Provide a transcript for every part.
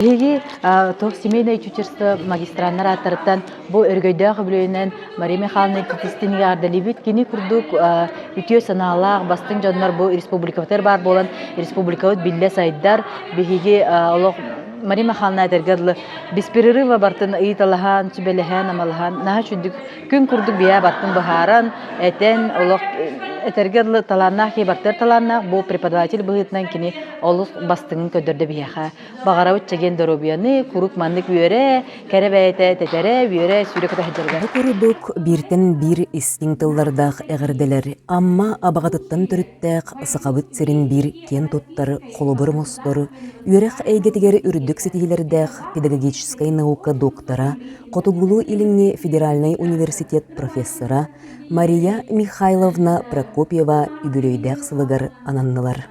Биһиги туох семейное чучерство магистраннар ааттарыттан бу өрөгөйдөөх үбүлүөйүнэн Мария Михайловна Кикистин яардалибит кини курдук үтүө санаалаах бастыҥ дьоннор бу республикабытыгар баар буолан республикабыт биллэ сайдар биһиги олох Мария Михайловна этэргэ дылы беспрерыва бартын ыйыталаһан, сүбэлэһэн, амалаһан наһаа чуддук күн курдук бия бартын быһааран, этэн олох этэргэ дылы талааннаах кебартер талааннаах бу преподаватель быһыытынан кини олус бастыҥын көрдөрдө биһиэхэ Баҕарабыт чэгиэн доруобуйаны, куруук маннык үөрэ, кэрэ бэйэтэ тэтэрэ, үөрэ, сүүрэ кута сылдьарга. Бу курдук бииртэн биир истиҥ тыллардаах эҕэрдэлэр Амма Абаҕатыттан төрүттээх Сахабыт сирин биир киэн туттар холобур оҥостор, үөрэх эйгэтигэр үрдүк ситиһиилэрдээх педагогическай наука доктора, Хотугулуу-Илиҥҥи федеральнай университет профессора Мария Михайловна Прокопьева үбүлүөйдээх сылыгар ананнылар.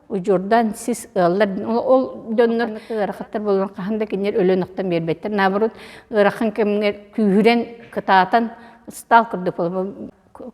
удьурдан сис ыаллар ол дьоннор ыарахаттар буолан хаһан да кинилэр өлөнөхтөн биэрбэттэр наоборот ыарахан кэмҥэ күүһүрэн кытаатан ыстаал курдук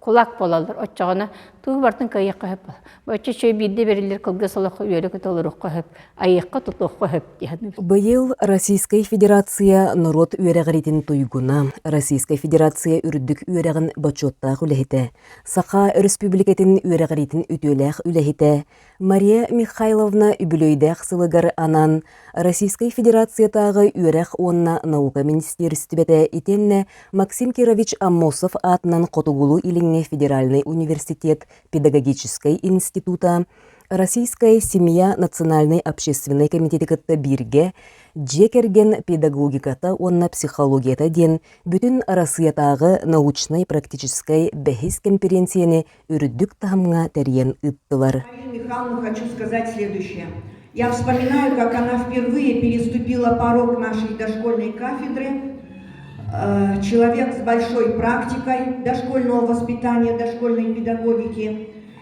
кулак буолаллар оччоҕуна тугу бартын кыайыахха сөп оччо үчүгэй биирдэ бэриллэр кылгас олоххо үөрэ толоруохха сөп айыахха тутуохха сөп диһэн быйыл Российскай Федерация норуот үөрэҕиритин туйгуна Российскай Федерация үрдүк үөрэҕин бочуоттаах үлэһитэ Саха Өрөспүүбүлүкэтин үөрэҕириитин үтүөлээх үлэһитэ Мария Михайловна үбүлүөйдээх сылыгар анан Российскай Федерациятааҕы үөрэх уонна наука министиэристибэтэ итиэннэ Максим Кирович Аммосов аатынан Хотугулуу-Илиҥҥи федеральнай университет педагогическай института Российская семья национальнай общественнай комитеты кытта бииргэ дьиэ кэргэн педагогиката уонна психологията диэн бүтүн Арассыыйатааҕы научнай-практическай бэһис кэмпириэнсийэни үрдүк таһымҥа тэрийэн ыыттылар. Михайловна, хочу сказать следующее. Я вспоминаю, как она впервые переступила порог нашей дошкольной кафедры, э, человек с большой практикой дошкольного воспитания, дошкольной педагогики,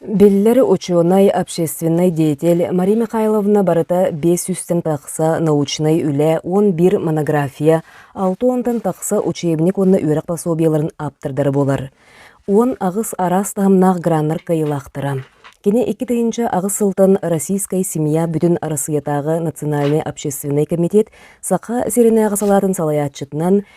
Биллэр учуонай, общественнай деятель Мария Михайловна барыта биэс сүүстэн тахса научнай үлэ, уон биир монография, алта уонтан тахса учебник уонна үөрэх пособиеларын ааптардара буолар. Уон аҕыс араас таһымнаах граннар кыайыылаахтара. Кини икки тыһыынча аҕыс сылтан Российская семья бүтүн Арассыыйатааҕы национальнай общественнай комитет Саха сиринээҕи салаатын салайааччытынан,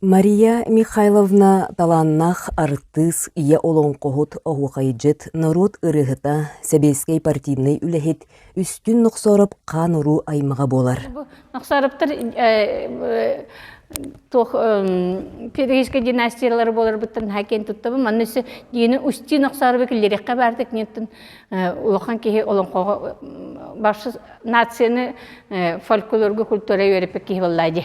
Мария Михайловна талааннаах артыыс, ийэ олоҥхоһут, оһуохайдьыт, норуот ырыаһыта, сэбиэскэй партийнай үлэһит, Үстүн Нохсоров хаан-уруу аймаҕа буолар. Бу Нохсоровтар туох перуийскай династиялары буоларбыттан наһаа киэн туттабын. Манна өссө дини Устин Нохсоровы күллэриэххэ баардык неттен улахан киһи олоҥхоҕо баршы нацияны фольклорга культура үөрэппит киһи боллаа ди.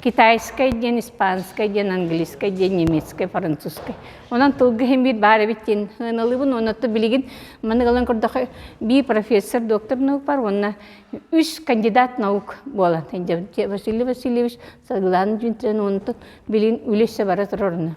китайскай диэн, испанскай диэн, английскай диэн, немецкай, французскай. Онон тылга иһин биир баар эбит диэн ыналыбын. Онон то билигин маннык ылан көрдөхө би профессор, доктор наук бар уонна үс кандидат наук буолан. Василий Васильевич соглаан дьүнтүрэн онтон билин үлэсэ бара турорна.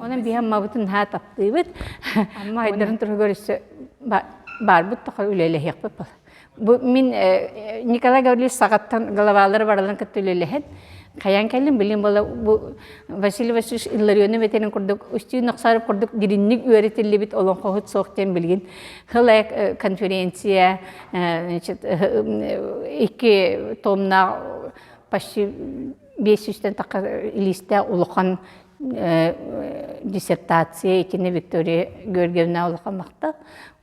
Онон биһэн мабытын наһаа таптыыбыт. Амма айдарын туругар өссө баарбыт тоха үлэлэһиэхпит бол. Бу мин Николай Гаврилович саҕаттан головалары баралан кытта үлэлэһэн хайан кэлин билим бола бу Василий Васильевич Илларионы ветерин курдук устью нахсарып курдук диринник үөрэтиллибит олонхоһут суох тен билгин хылай конференция значит икки томна почти биэс сүүстэн тахха илиистээх улахан диссертация итини Виктория Георгиевна улахан махта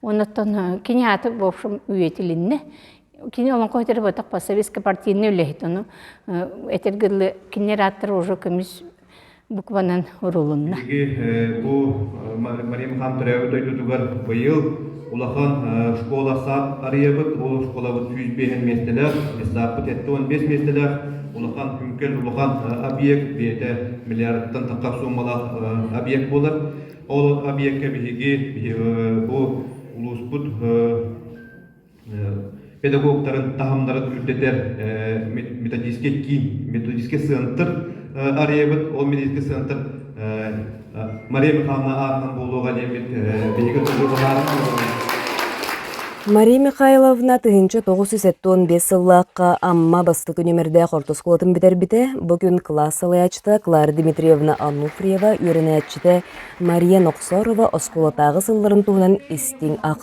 оннуттан кини аты в общем үйэтилинне кини олонко өтер ботах посоветско партийный үлэһит ону этер гырлы киннер аттар уже көмүс букванан урулунна. Мария Михан төрөөбүт дойдутугар быйыл улахан школа саат арыйабыт. Ол школабыт сүүс биэһин миэстэлээх, лиссааппыт етте он бес миэстэлээх, улахан үҥкэн, улахан объект, бэйэтэ миллиардтан тахха сууммалаах объект болар. Ол объекка биһиги бу улууспут педагогтарын таһымнарын үрдэтэр методический киин, методический сыантыр арыйабыт. Ол методический сыантыр Мария Михайловна аатынан буолуоҕа диэн биһиги ыллылаһаары Мария Михайловна тыһыынча тоҕус жүз сэттэ уон биэс сыллаахха Амма бастакы нүмердээх орто оскуолатын бүтэрбитэ. Бу күн кылаас салайааччыта Клара Дмитриевна Ануфриева, үөрэнээччитэ Мария Нохсорова оскуолатааҕы сылларын туһунан истиҥ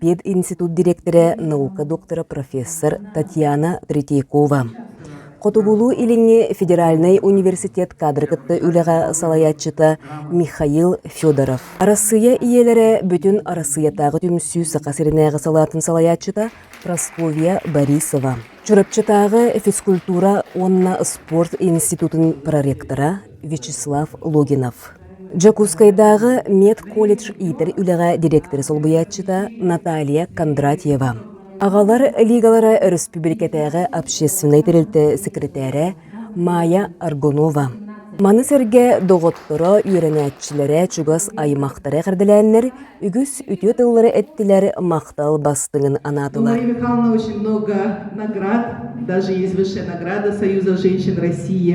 пединститут дириэктэрэ, наука доктора, профессор Татьяна Третьякова. Хотугулуу-илиҥҥи федеральнай университет кадры кытта үлэҕэ салайааччыта Михаил Федоров. Арассыыйа ийэлэрэ бүтүн Арассыыйатааҕы түмсүү Саха сиринээҕи салаатын салайааччыта Прасковья Борисова. Чурапчытааҕы физкультура уонна спорт институтун проректора Вячеслав Логинов. Дьокуускайдааҕы медколледж иитэр үлэҕэ дириэктэри солбуйааччыта Наталья Кондратьева, аҕалар лигалара өрөспүүбүлүкэтээҕи общественнай тэрилтэ сэкирэтээрэ Майя Аргунова. Маны сэргэ доҕотторо, үөрэнээччилэрэ чугас аймахтара эҕэрдэлээннэр үгүс үтүө тыллары эттилэр, махтал бастыҥын анаатылар. Мария Михайловна очень много наград, даже есть высшая награда Союза женщин России.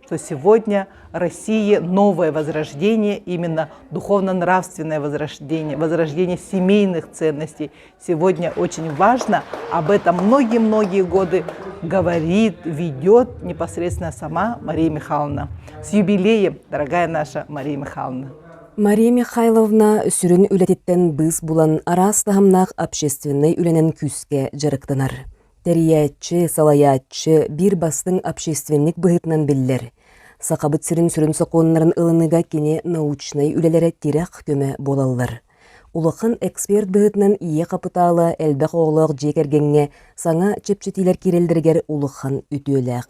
что сегодня России новое возрождение, именно духовно-нравственное возрождение, возрождение семейных ценностей сегодня очень важно. Об этом многие-многие годы говорит, ведет непосредственно сама Мария Михайловна. С юбилеем, дорогая наша Мария Михайловна! Мария Михайловна сүрүн үлэтиттэн быыс булан араас таһымнаах общественнай үлэнэн күүскэ дьарыктанар. Тэрийээччи, салайааччы биир бастыҥ общественник быһыытынан биллэр. Сахабыт сирин сүрүн сокуоннарын ылыныга кини научнай үлэлэрэ тирэх-көмө буолаллар. Улахан эксперт быһыытынан ийэ хапытаала элбэх оҕолоох дьиэ кэргэҥҥэ саҥа чэпчэтиилэр киирэллэригэр улахан үтүөлээх.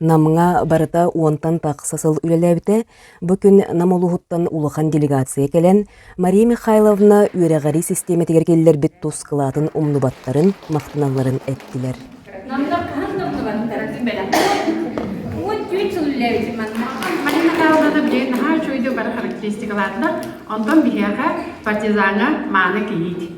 Намҥа барыта уонтан тахса сыл үлэлээбитэ. Бу күн Нам улууһуттан улахан делегация кэлэн, Мария Михайловна үөрэҕирии систиэмэтигэр киллэрбит тус кылаатын умнубаттарын, махтаналларын эттилэр. Намда хаһан да умнубаттара ты бэлэх. Вот түүт сыл үллээбитим манна. Манна хааллаҕа били наһаа үчүгүйдүү бары характеристикаларда. Онтон биһиэхэ партизаҥа мааны кийиит.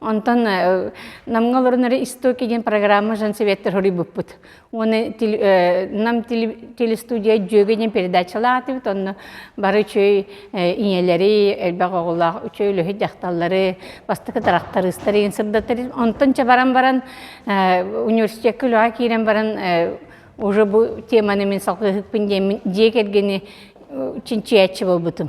Онтон Намга олорон эрэ истоки диэн программа жан советтер хоруйбуппут. Уонна Нам телестудия дьүөгө диэн передачалаатыбыт, онно бары үчүй ийэлэри, элбэх оҕолоох үчүй үлэһит дьахталлары бастакы тарахтарыыстар иин сырдатары. Онтон ча баран баран университетка үлэҕэ киирэн баран уже бу теманы мин салгыһыкпын диэн дьиэ кэргэни чинчийээччи буолбутум.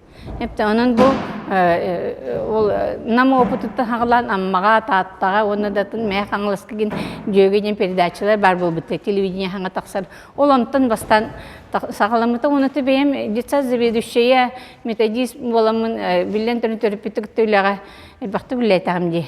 онон бу ол Нам опытыттан хаҕылаан Аммаҕа, Тааттаҕа уонна да атын Мэхэ Хаҥаласка гин дьүөгэ диэн передачалар баар буолбуттар телевидение хаҥа тахсар. Ол онтон бастаан саҕаламмыта уонна бэйэм детсад заведующая методист буоламмын биллэн туран төрөппүттүк үлэҕэ элбэхтик үлэлээтэҕим дии.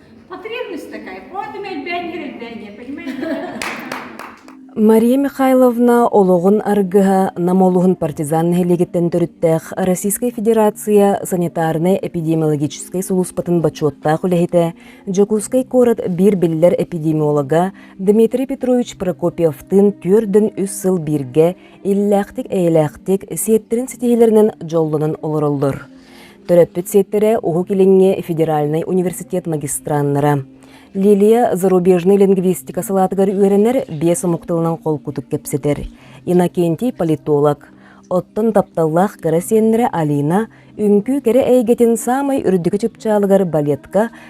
Потребность такая. Вот им элбээннэр элбээннэр, понимаете? Мария Михайловна олоҕун аргыһа Нам улуһун партизан нэһилиэгиттэн төрүттээх Российскай Федерация санитарнай-эпидемиологическай сулууспатын бочуоттаах үлэһитэ, Дьокуускай куорат биир биллэр эпидемиолога Дмитрий Петрович Прокопьевтыын түөрдөн үс сыл бииргэ иллээхтик-эйэлээхтик сиэттэрин ситиһиилэринэн дьоллонон олороллор. Төрөппүт сиэттэрэ Уһук Илиҥҥи федеральнай университет магистраннара Лилия зарубежнай лингвистика салаатыгар үөрэнэр биэс омук тылынан холкутук кэпсэтэр Иннокентий политолог. Оттон тапталлаах кыра сиэннэрэ Алина үҥкүү кэрэ эйгэтин саамай үрдүкү чыпчаалыгар балетка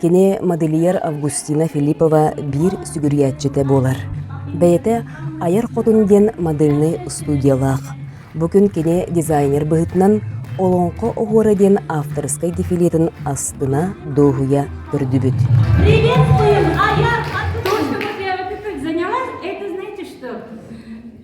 Кини модельер Августина Филиппова биир сүгүрүйээччитэ буолар. Бэйэтэ «Айар хотун» диэн модельнай устудьуолаах. Бу күн кини дизайнер быһыытынан «Олоҥхо оһуора» диэн авторскай дефилетин астына, дуоһуйа көрдүбүт. Приветствуем! А я тут, чтобы я вот это заняла. Это знаете что?